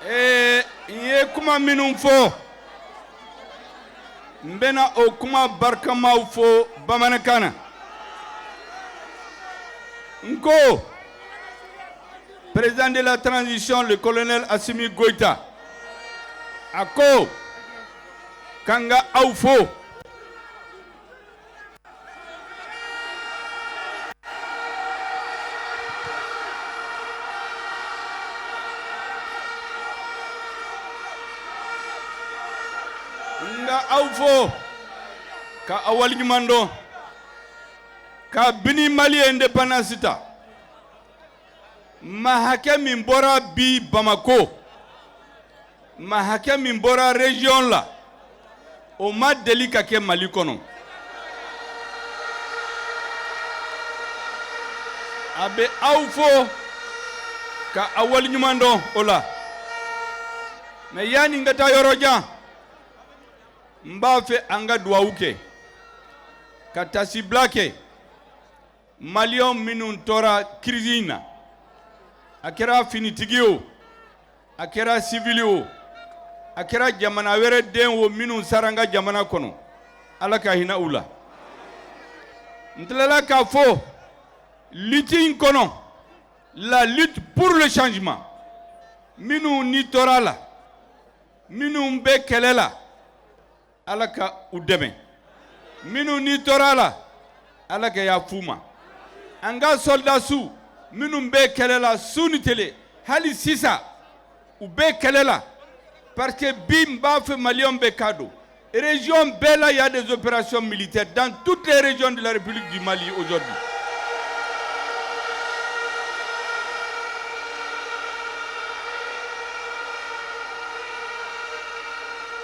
Ee n ye kuma minnu fɔ n bɛna o kuma barikamaw fɔ bamanankan na n ko président de la transition le colonel Assimi Goïta a ko k'an ka aw fo aw fo ka aw waleɲuman dɔn kabini mali ye indépendance ta maa hakɛ min bɔra bi Bamako maa hakɛ min bɔra région la o ma deli ka kɛ Mali kɔnɔ a bɛ aw fo ka a waleɲuman dɔn o la mais yanni n ka taa yɔrɔ jan n b'a fɛ an ka duwawu kɛ ka taasibila kɛ Maliens minnu tora crise in na a kɛra finitigi o a kɛra sibili o a kɛra jamana wɛrɛ den o minnu sara an ka jamana kɔnɔ ala ka hinɛ u la n tilala k'a fɔ lutte in kɔnɔ la lutte pour le changement minnu ni tora a la minnu bɛ kɛlɛ la ala ka u dɛmɛ minnu ni tora a la ala ka yafa u ma an ka sɔrɔdasiw minnu bɛ kɛlɛ la su ni tele hali sisan u bɛ kɛlɛ la parce que bi n b'a fɛ Maliens bɛɛ k'a dɔn région bɛɛ la y a des opérations militaires dans toutes les régions de la république du Mali aujourd'hui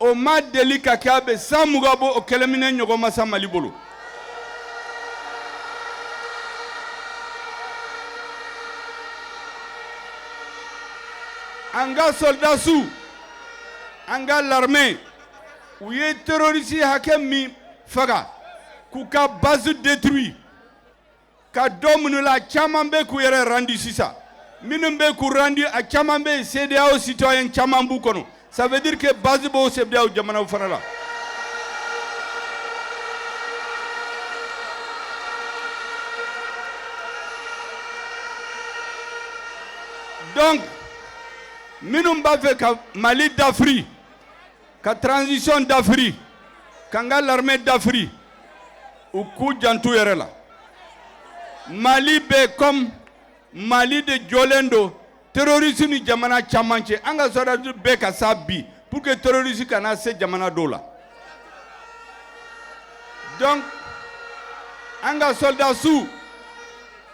o ma deli ka kɛ a bɛ san mugan bɔ o kɛlɛminɛn ɲɔgɔn ma sɔrɔ mali bolo an ka sɔrɔdasiw an ka l'armée u ye terroriste hakɛ min faga k'u ka base détruit ka dɔ minɛ u la caman bɛ k'u yɛrɛ randi sisan minnu bɛ k'u randi a caman bɛ yen CEDEAO citoyen caman b'u kɔnɔ ça veut dire que base b'o CEDEAO jamanaw fana la donc minnu b'a fɛ ka Mali dafiri ka transition dafiri k'an ka l'armée dafiri u k'u jant'u yɛrɛ la mali bɛ comme mali de jɔlen don terroriste ni jamana caman cɛ an ka sɔrɔdasiw bɛ ka sa bi pour que terroriste kana se jamana dɔw la donc an ka sɔrɔdasiw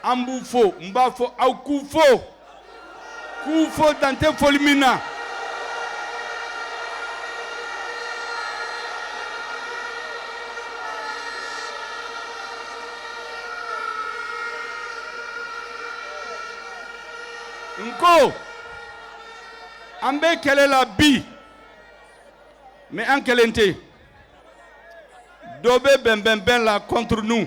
an b'u fo n b'a fɔ aw k'u fo k'u fo dan tɛ foli min na n ko an bɛ kɛlɛ la bi mais an kelen tɛ dɔ bɛ bɛnbɛnbɛn la contre nous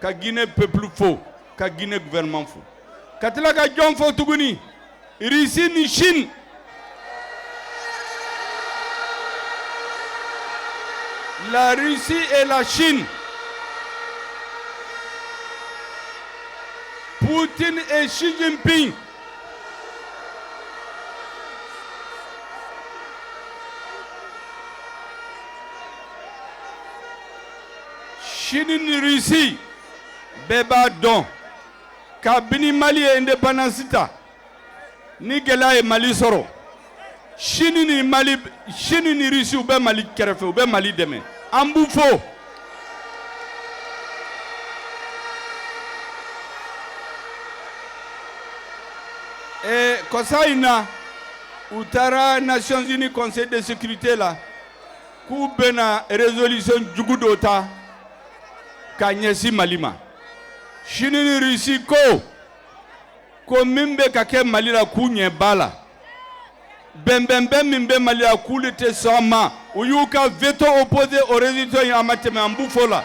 ka Guinee peuple fo, ka Guinee gouvernement fo, ka tila ka jɔn fo tuguni? Russie ni Chine. La Russie et la Chine. Poutine et Xi Jinping. Chine ni Russie bɛɛ b'a dɔn kabini Mali ye indépendance ta ni gɛlɛya ye Mali sɔrɔ Chine ni Mali Chine ni Russie u bɛ Mali kɛrɛfɛ u bɛ Mali dɛmɛ an b'u fo ee kɔsa in na u taara Nations Unies Conseil de sécurité la k'u bɛna résolution jugu dɔ ta ka ɲɛsin Mali ma Chine ni Russie ko ko min bɛ ka kɛ Mali la k'u ɲɛ b'a la bɛnbɛnbɛn min bɛ Mali la k'olu tɛ sɔn a ma u y'u ka veto opposé o résolution in a ma tɛmɛ an b'u fo la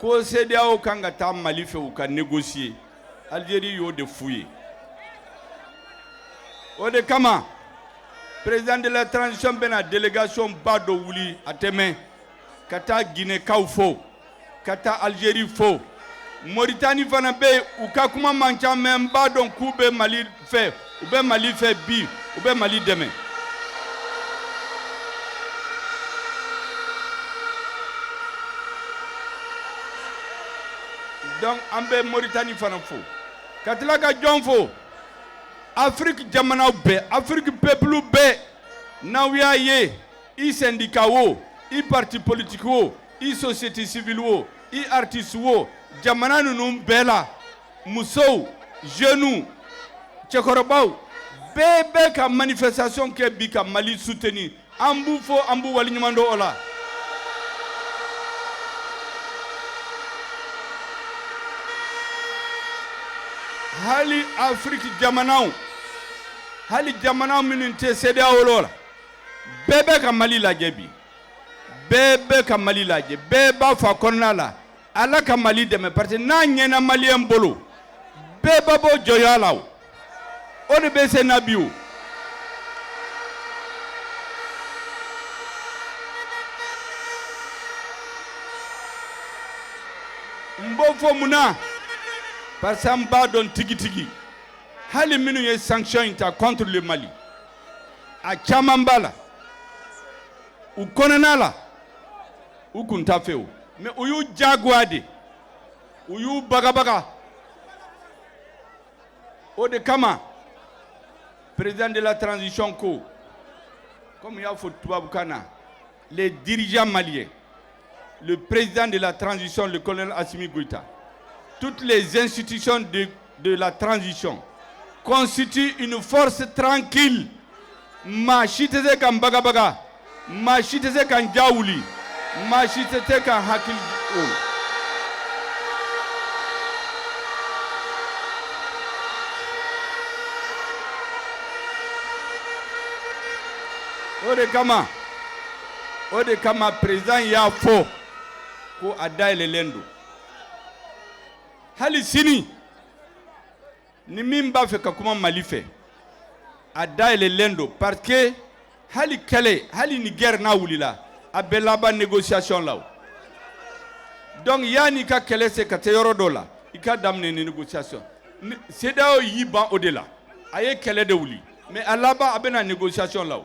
ko CEDEAO kan ka taa Mali fɛ u ka négocier Algérie y'o de f'u ye o de kama président de la transition bɛna délégation ba dɔ wuli a tɛ mɛn ka taa Guinée kaw fo ka taa Algérie fo Mauritanie fana bɛ yen u ka kuma man ca mais n b'a dɔn k'u bɛ Mali fɛ u bɛ mali fɛ bi u bɛ mali dɛmɛ donc an bɛ moritani fana fo ka tila ka jɔn fo afiriki jamanaw bɛɛ afiriki pepulu bɛɛ n'aw y'a ye i sɛndika wo i parti politiki wo i sosiyete sivili wo i aritisi wo jamana ninnu bɛɛ la musow jeunes cɛkɔrɔbaw bɛɛ bɛ ka manifestation kɛ bi ka Mali soutenir an b'u fo an b'u waleɲuman dɔn o la hali Afrique jamanaw hali jamana minnu tɛ CEDEAO la bɛɛ bɛ ka Mali lajɛ bi bɛɛ bɛ ka Mali lajɛ bɛɛ b'a fɔ a kɔnɔna la Ala ka Mali dɛmɛ parce que n'a ɲɛna malien bolo bɛɛ bɛ bɔ jɔnya la o o de bɛ senna bi o n b'o fɔ mun na parce que an b'a dɔn tigitigi hali minnu ye sanction in ta contre le Mali a caman b'a la u kɔnɔna la u kun t'a fewu mais u y'u jagoya de u y'u bagabaga o de kama président de la transition ko comme y'a fɔ tubabukan na les dirigeants maliens le président de la transition le colonel Assimi Goïta toutes les institutions de de la transition constitue une force tranquille maa si tɛ se k'an bagabaga maa si tɛ se k'an ja wuli maa si tɛ se k'an hakili o o de kama o de kama président y'a fɔ ko a dayɛlɛlen don hali sini ni min b'a fɛ ka kuma Mali fɛ a dayɛlɛlen don parce que hali kɛlɛ hali ni guerre n'a wulila a bɛ laban négociation la o donc yanni ka kɛlɛ se ka taa yɔrɔ dɔ la i ka daminɛ ni négociation CEDEAO y'i ban o de la a ye kɛlɛ de wuli mais a laban a bɛ na négociation la o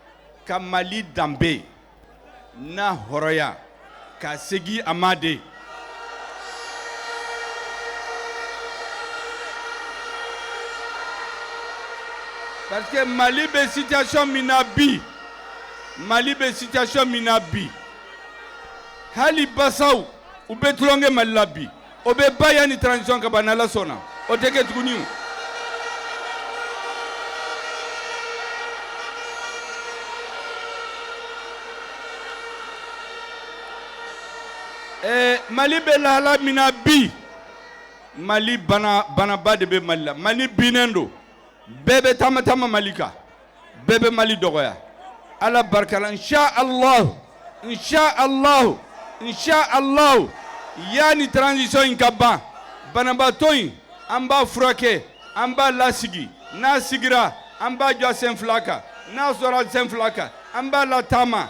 ka mali danbe n'a hɔrɔnya ka segin a ma de parce que mali bɛ situation min na bi mali bɛ situation min na bi hali basaw u bɛ tulonkɛ mali la bi o bɛ ban yanni transition ka ban n'Ala sɔnna o tɛ kɛ tuguni o. Ɛɛ Mali bɛ lahala min na bi, Mali bana banaba de bɛ Mali la, Mali binnen don, bɛɛ bɛ taama taama Mali kan. bɛɛ bɛ mali dɔgɔya ala barika la nsa alahu nsa alahu nsa alahu yanni taranzisɔn in ka ban banabaatɔ in an b'a furakɛ an b'a lasigi n'a sigira an b'a jɔ sen fila kan n'a jɔra sen fila kan an b'a lataama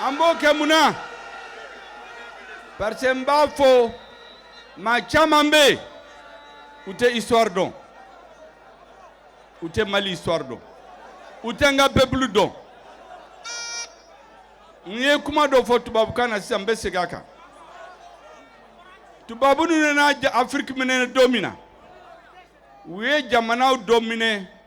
An b'o kɛ mun na parce que n b'a fɔ maa caman bɛ yen u tɛ histoire dɔn u tɛ Mali histoire dɔn u tɛ an ka peuple dɔn n ye kuma dɔ fɔ tubabukan na sisan n bɛ segin a kan tubabu ninnu nana Afiriki minɛ don min na u ye jamana dɔw minɛ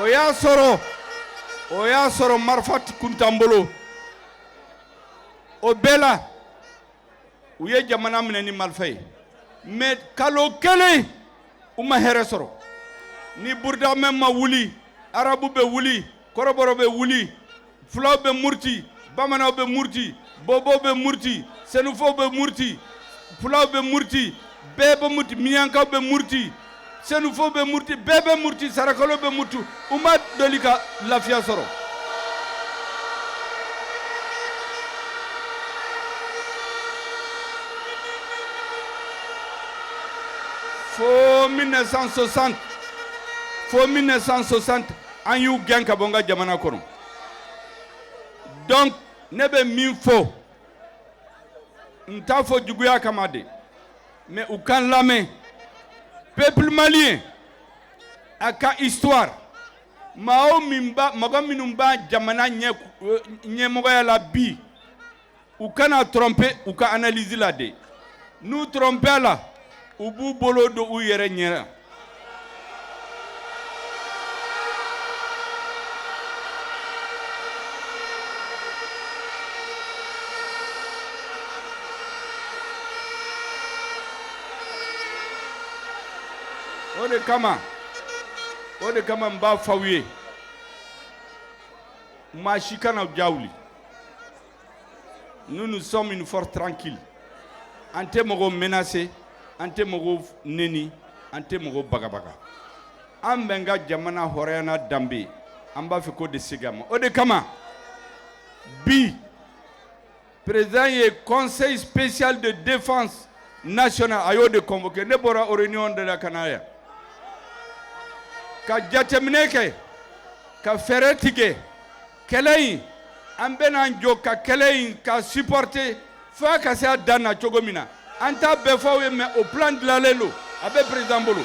o y'a sɔrɔ o y'a sɔrɔ marifa kun t'an bolo o bɛɛ la u ye jamana minɛ ni marifa ye mais kalo kelen u ma hɛrɛ sɔrɔ ni burudamɛ ma wuli arabu bɛ wuli kɔrɔbɔrɔ bɛ wuli fulaw bɛ muruti bamananw bɛ muruti bɔbɔw bɛ muruti sɛnɛfɔw bɛ muruti fulaw bɛ muruti bɛɛ bɛ muruti minyankaw bɛ muruti sɛnɛfɔw bɛ muruti bɛɛ bɛ muruti sarakalo bɛ muruti u ma deli ka lafiya sɔrɔ fo 1960 fo 1960 an y'u gɛn ka bɔ n ka jamana kɔnɔ donc ne bɛ min fɔ n t'a fɔ juguya kama de mais u ka n lamɛn peuple malien a ka histoire maaw min b'a mɔgɔ minnu b'a jamana in ɲɛmɔgɔya la bi U kana trompé u ka analyse la dɛ n'u trompéla u b'u bolo don u yɛrɛ ɲɛ na o de kama o de kama n b'a fɔ aw ye maa si kana ja Nous, nous sommes une force tranquille. An tɛ mɔgɔw menacer, an tɛ mɔgɔw nɛni, an tɛ mɔgɔw bagabaga. An bɛ an ka jamana hɔrɔnya n'a danbe, an b'a fɛ k'o de segin a ma. O de kama, bi président ye conseil spécial de défense nationale a y'o de convoqué ne bɔra o réunion de la ka na yan. Ka jateminɛ kɛ, ka fɛɛrɛ tigɛ. kɛlɛ in an bɛna an jɔ ka kɛlɛ in k'a supporter fo a ka se a dan na cogo min na an t'a bɛɛ fɔ aw ye mais o plan dilanlen don a bɛ président bolo.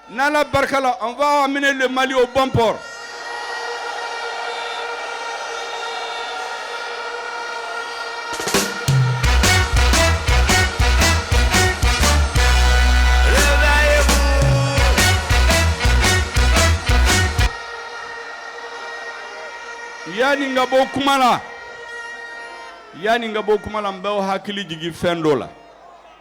N'Ala barika la on va amener le Mali au bon port yanni n ka bɔ kuma la yanni n ka bɔ kuma la n b'aw hakili jigin fɛn dɔ la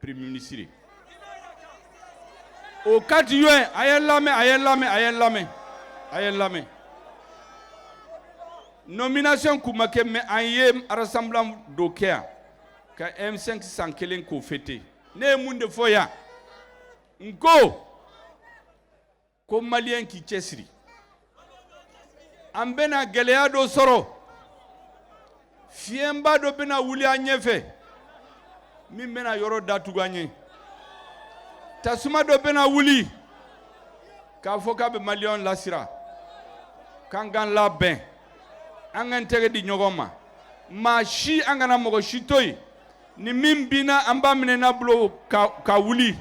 Premier ministre au 4 juin a ye n lamɛn a ye n lamɛn a ye n lamɛn a ye n lamɛn nomination kun ma kɛ mais an ye rassemblement dɔ kɛ yan ka M5 san kelen k'o fêter ne ye mun de fɔ yan n ko ko maliyɛn k'i cɛsiri an bɛna gɛlɛya dɔ sɔrɔ fiɲɛba dɔ bɛna wuli an ɲɛfɛ min bɛna yɔrɔ datugu an ye tasuma dɔ bɛna wuli k'a fɔ k'a bɛ maliyɛnw lasira k'an k'an labɛn an k'an tɛgɛ di ɲɔgɔn ma maa si an kana mɔgɔ si to yen ni min binna an b'a minɛ n'a bolo ka wuli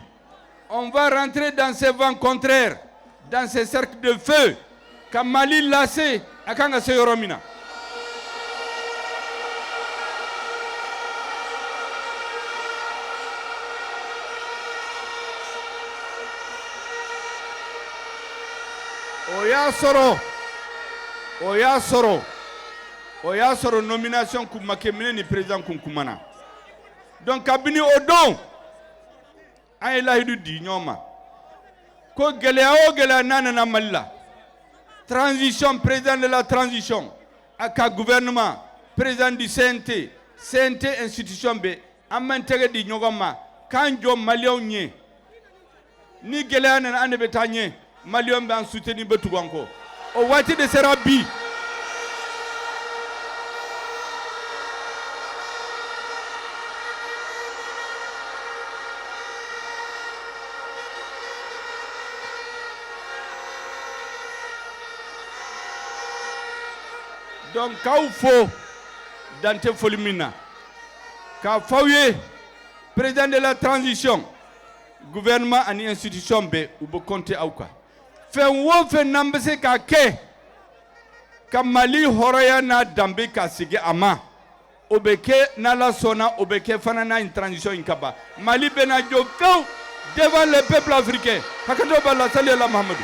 rentrer dans ce vent contraire dans ce cercle de feu ka mali lase a kan ka se yɔrɔ min na o y'a sɔrɔ o y'a sɔrɔ o y'a sɔrɔ nomination kun ma kɛ mais ne ni président kun kumana donc kabini o don an ye layidu di ɲɔgɔn ma ko gɛlɛya o gɛlɛya n'a nana mali la transition président de la transition a ka gouvernement président du cnt cnt institution bɛɛ an b'an tɛgɛ di ɲɔgɔn ma k'an jɔ maliyɛnw ɲɛ ni gɛlɛya nana an de bɛ taa ɲɛ Maliyɛnw bɛ an soutenir u bɛ tugu an kɔ o waati de sera bi donc k'aw fo dan tɛ foli min na k'a fɔ aw ye président de la transition gouvernement ani institution bɛɛ u bɛ compter aw kan fɛn o fɛn n'an bɛ se k'a kɛ ka Mali hɔrɔnya n'a danbe ka segin a ma o bɛ kɛ n'Ala sɔnna o bɛ kɛ fana yanni transition in ka ban Mali bɛna jɔ pewu devant les peuples africains hakɛto b'a la sali ala Mahamadu.